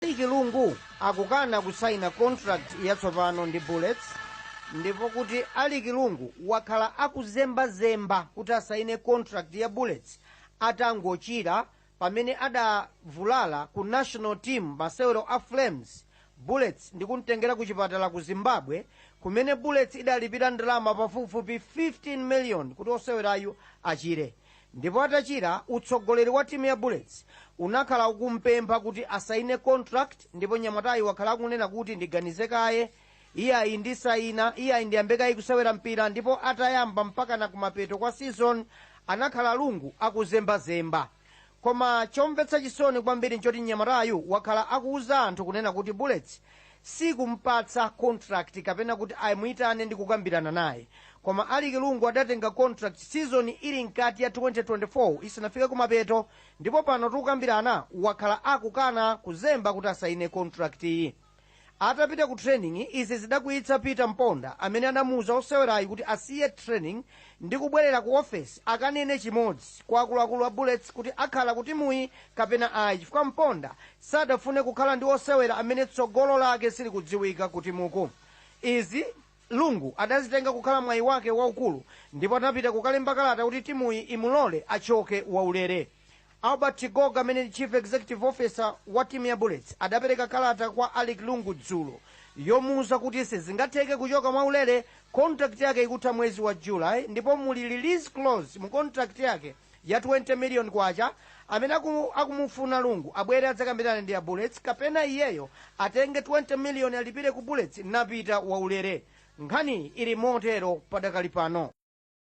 Alick Lungu akukana kusaina contract yatsopano ndi Bullets ndipo kuti Alick Lungu wakhala akuzembazemba kuti asaine contract ya Bullets atangochira pamene adavulala ku national team masewero a Flames Bullets ndi kumtengera ku chipatala ku Zimbabwe kumene Bullets idalipira ndalama pafupifupi 15 million kuti osewerayu achire Ndipo atachira, utsogoleri wa timu ya Bullets unakhala akumpempha kuti asaine contract ndipo nyamatayu wakhala akunena kuti ndiganize kaye, iyayi ndisaina, iyayi ndiyambe kaye kusewera mpira ndipo atayamba mpakana kumapeto kwa season anakhala a Lungu akuzembazemba. Koma chomvetsa chisoni kwambiri nchoti nyamatayu wakhala akuuza anthu kunena kuti Bullets sikumpatsa contract kapena kuti imuitane ndi kukambirana naye koma Alick Lungu adatenga contract season ili mkati ya 2024 isinafike kumapeto ndipo pano tikukambirana wakhala akukana kuzemba kuti asaine contract iyi atapita ku training izi zidakwiyitsa Peter Mponda amene anamuuza osewerayi kuti asiye training ndi kubwerera ku ofesi akanene chimodzi kwa akuluakulu a bullets kuti akhala ku timuyi kapena ayi chifukwa Mponda sadafune kukhala ndi osewera amene tsogolo lake silikudziwika ku timuku. Izi, Lungu adazitenga kukhala mwayi wake waukulu ndipo anapita kukalemba kalata kuti timuyi imulole achoke waulere. Albert Chigoga amene ndi Chief Executive Officer wa timu ya Bullets adapereka kalata kwa Alick Lungu dzulo yomuuza kuti sizingatheke kuchoka mwaulere, contract yake ikutha mwezi wa July ndipo muli release clause mu contract yake ya K20 million amene akumufuna a Lungu abwere adzakambirane ndi a Bullets kapena iyeyo atenge K20 million alipire ku Bullets napita waulere. Nkhaniyi ili motero padakali pano.